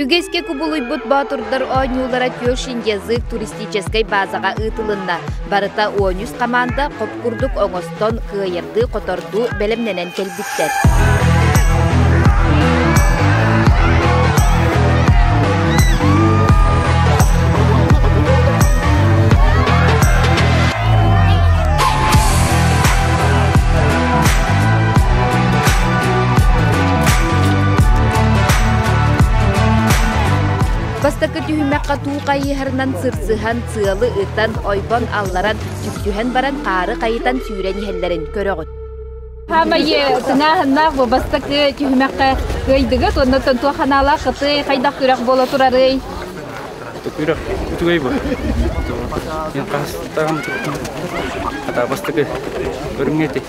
Үгэскэ кубулуйбут боотурдар оонньуулара Тёш язык туристическай баазаҕа ыытылынна. Барыта оонньус хамаанда хоп курдук оҥостон, кыайардыы-хотордуу бэлэмнэнэн кэлбиттэр. Бастакы түһүмэххэ туу хайыһарынан сырсыһан, сыалы ытан, ойбон алларан, түптүһэн баран хаары хайытан сүүрэн иһэллэрин көрөҕүт. Хаамайы сыҥааһыннаах бу бастакы түһүмэххэ кыайдыгыт уонна тонтуо ханаалаах кыты хайдах күрэх буола турарый? Күрэх үтүгэй бу. Мен хастан хата бастакы көрүҥҥэти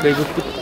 кыайбыппыт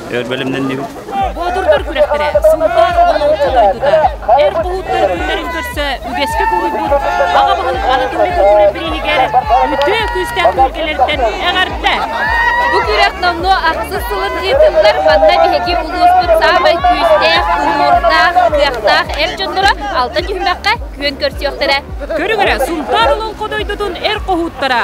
өр бэлэмнэннибит. Боотурдар күрэхтэрэ сылтаан он алты дойдута эр буһууттар күннэрин көрсө үгэскэ куруйбут аҕа баһылык Анатолий Куркулев бирииһигэр үтүө күүстээх күргэлэртэн эҕэрдэ. Бу күрэх номнуо ахсыс сылын ыытыллар манна биһиги улууспут саамай күүстээх, уһуурдаах, кыахтаах эр дьонноро алта түһүмэххэ күөн көрсүөхтэрэ. Көрүҥ эрэ Сунтаар Олоҥхо дойдутун эр хоһууттара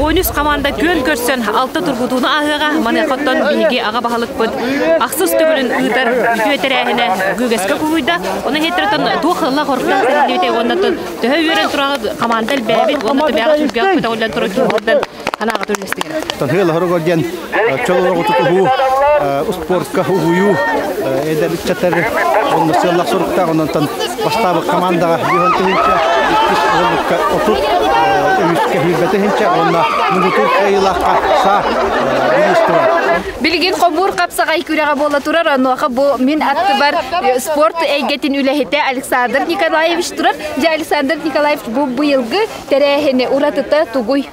Он үс хамаанда күөн көрсөн алта тургутууну ааһыаҕа. Маныаха биһиги аҕа баһылыкпыт ахсыс төгүлүн ыытар үтүө тэрээһинэ Гүгэскэ куһуйда. Оны хеттертон туох ылла хорта тэриллибите уонна төһө үөрэн тураны хамаанда элбээбит уонна төбөҕө түргэх педагоглан туран киһилэрден анаага төлөстігер. Тонхы лахыры горден чөл олоҕутут уһуу, успуорка уһуйуу, эдэр ыччаттар онно сыаллах соруктаах ононтон бастаабыт командаҕа биһон тыһынча, иккис оҕолукка отут, үһүскэ сүүрбэ тыһынча уонна муҥутуур кыайыылаахха саа бириис турар. Билигин хобуур хапсаҕай күрэҕэ буола турар, онуоха бу мин аттыбар спорт эйгэтин үлэһитэ Александр Николаевич турар. Дьэ, Александр Николаевич бу быйылгы тэрээһини уратыта тугуй?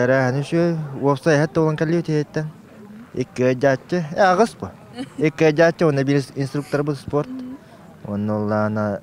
Тэрээһин үчүгэй. Уопсай эһэт толон кэлиэ тиһэттэн. Икки дьааччы. Э, аҕыс бу. Икки дьааччы уонна биир инструкторбут спорт. Онно оллаана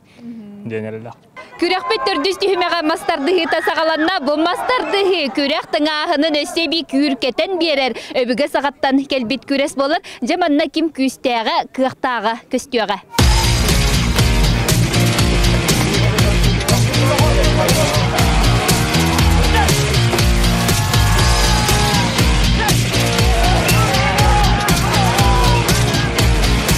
диэн эрэллэх. Күрэхпит төрдүс түһүмэҕэ мас тардыһыыта саҕаланна. Бу мас тардыһыы күрэх тыҥааһынын өссө эбии күүркэтэн биэрэр өбүгэ саҕаттан кэлбит күрэс болар. Дьэ манна ким күүстээҕэ, кыахтааҕа көстүөҕэ.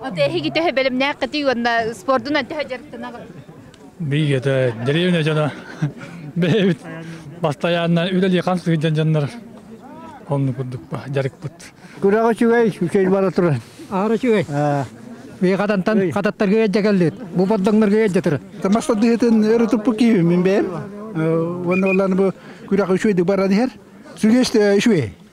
От эһиги төһө бэлэмнээх кытый уонна спордунан төһө дьарыктанаҕын? Биигэтэ деревня дьоно бэйэбит бастайааннан үлэлии хан сыдьан дьоннор онну курдукпа дьарыкпыт. Күрэҕи үчүгэй, үчүгэй бара туран. Аара үчүгэй. Биэхатантан хататтарга эддэ кэллит. Бу боддоҥнорго эддэ туран. Тамаштар дыһытын өрүтуппу киевим мен бэйэм. Уонна олланы бу күрэҕи үчүгэй баран иһэр. Сүрес үчүгэй.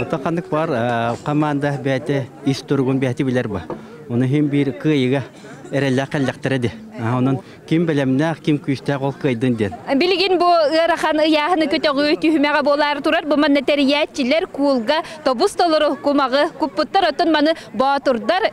Ото ханнык баар хамаанда бэйэтэ ис туругун бэйэтэ билэр ба. Ону иһин биир кыайыга эрэллээх кэллэхтэрэ ди. Онон ким бэлэмнээх, ким күүстээх ол кыайдын диэн. Билигин бу ыарахан ыйааһыны көтөҕүү түһүмэҕэ буолаар турар. Бу манна тэрийээччилэр куулга тобус толору кумаҕы куппуттар, оттон маны боотурдар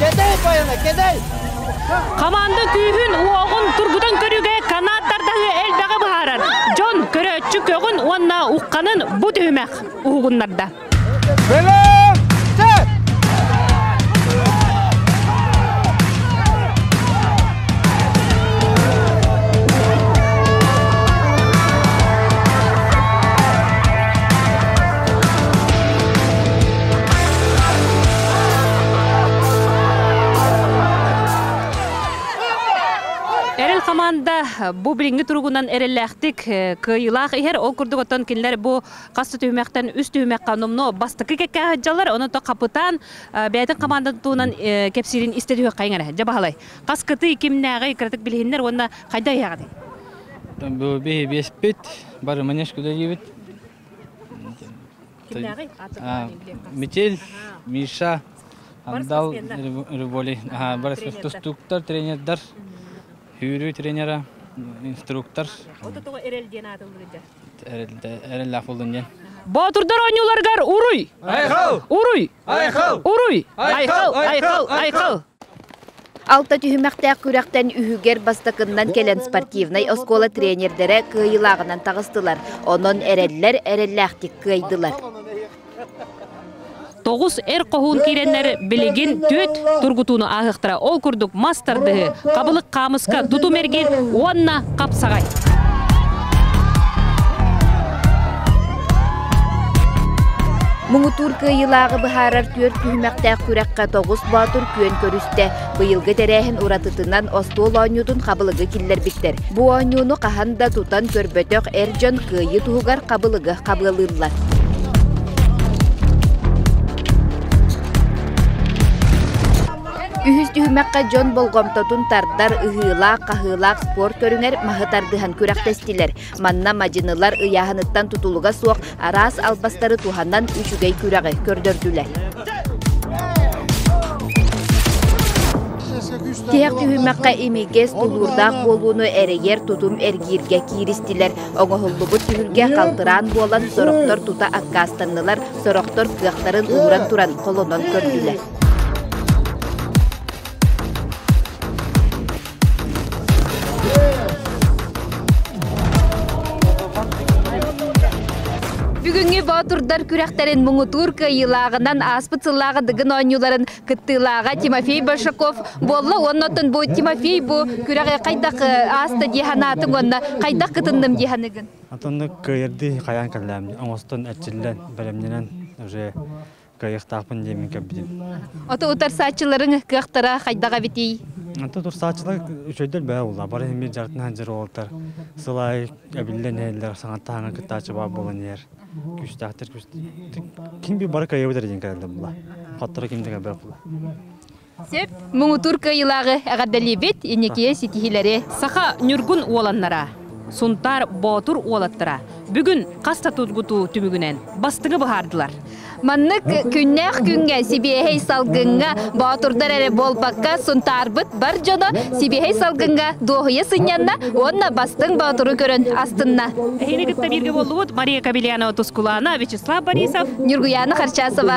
Кэтэй байана, кэтэй! Хамаанда күүһүн, уоҕун тургутан көрүүгэ канаат тардаһыы элбэҕи быһаарар. Дьон көрөөччү көҕүн уонна ухханын бу түһүмэх уһугуннарда. Бэлэм! Сет! Эрэл хамаанда бу билиҥҥи туругунан эрэллээхтик кыайыылаах иһэр. Ол курдук оттон кинилэр бу хас түһүмэхтэн үс түһүмэххэ номно бастакы кэккэ аһыддьаллар. Ону то хапытаан бэйэтин хамаандатын туһунан кэпсиирин истэ түһүөххэ иҥэрэ. Дьэ баһылай, хас кытый кимнээҕий кыратык билиһиннэр уонна хайда иһэҕитий? Биһи биэспит, бары манеж куда диибит. Кимнээҕий? Аатырнаҕын билиэххэ. Метель, Миша, Андал, Рыболи. Бар тустууктар, тренердэр. Сүүрүү тренера, инструктор. От того Эрэл диэн аатыллыыр Эрэл Афылын диэн. Боотурдар оонньууларыгар уруй! Айхал! Уруй! Айхал! Уруй! Айхал! Айхал! Айхал! Алта түһүмэхтээх күрэхтэн үһүгэр бастакыннан кэлэн спортивнай оскуола тренердэрэ кыайыылааҕынан таҕыстылар. Онон эрэллэр эрэллээхтик кыайдылар. Тоҕус эр хоһуун киирэннэр билигин түөрт тургутууну ааһыахтара. Ол курдук мас тардыһыы, хабылык хаамыска тутум эргин уонна хапсаҕай. Муҥутуур кыайыылааҕы быһаарар түөрт түһүмэхтээх күрэххэ Тоҕус Боотур күөн көрүстэ. Быйылгы тэрээһин уратытынан остуол оонньуутун хабылыгы киллэрбиттэр. Бу оонньууну хаһан да тутан көрбөтөх эр дьон кыайыы туһугар хабылыгы хабыалыыллар. Үһүс түһүмэххэ дьон болҕомтотун тардар ыһыылаах-хаһыылаах спорт көрүҥэр маһы тардыһан күрэхтэстилэр. Манна мадьынылар ыйааһыныттан тутулуга суох араас албастары туһанан үчүгэй күрэҕи көрдөрдүлэр. Тиһэх түһүмэххэ имигэс тулуурдаах буолууну эрийэр тутум эргииргэ кииристилэр. Оҥоһуллубут түһүлгэ халтыраан буолан, сорохтор тута аккаастаннылар, сорохтор кыахтарын ууран туран холонон көрдүлэр. Бүгүҥҥү боотурдар күрэхтэрин муҥутуур кыайыылааҕынан ааспыт сыллааҕы дыгын оонньууларын кыттыылааҕа Тимофей Большаков буолла уонна оттон бу Тимофей бу күрэҕи хайдах ааста дии санаатыҥ уонна хайдах кытынным дии саныыгын? Атыннык кыайардыы хайаан кэллээм оҥостон эрчиллэн бэлэмнэнэн уже кайыахтаахпын диэммин кэлбитим. Ото утарсааччыларыҥ кыахтара хайдах эбитий? Ото утарсааччылар үчөйдөр бэһэ булла. Бары химир дьартын ханжыр олтар сыл аайы эбиллэн иһэллэр, саҥаттааҕын кыттааччы баар буолан иһэр. Күүстээхтэр күүстээхтэр. Ким би бары кайыабыт эрдин кэлэллэр була. Хотторо ким дэгэ бэр була. Сөп муҥутуур кыайыылааҕы эҕэрдэлиибит инникигэ ситиһиилэри саха ньургун уоланнара Сунтаар Боотур уолаттара бүгүн хас да тургутуу түмүгүнэн бастыҥы быһаардылар. Маннык күннээх күҥҥэ сибиэһэй салгыҥҥа боотурдар эрэ буолбакка Сунтаарбыт бар дьоно сибиэһэй салгыҥҥа дуоһуйа сынньанна уонна бастыҥ боотуру көрөн астынна. Эһиги кытта бииргэ буоллубут Мария Кабеляна Тускулана, Вячеслав Борисов, Ньургуяна Харчасова.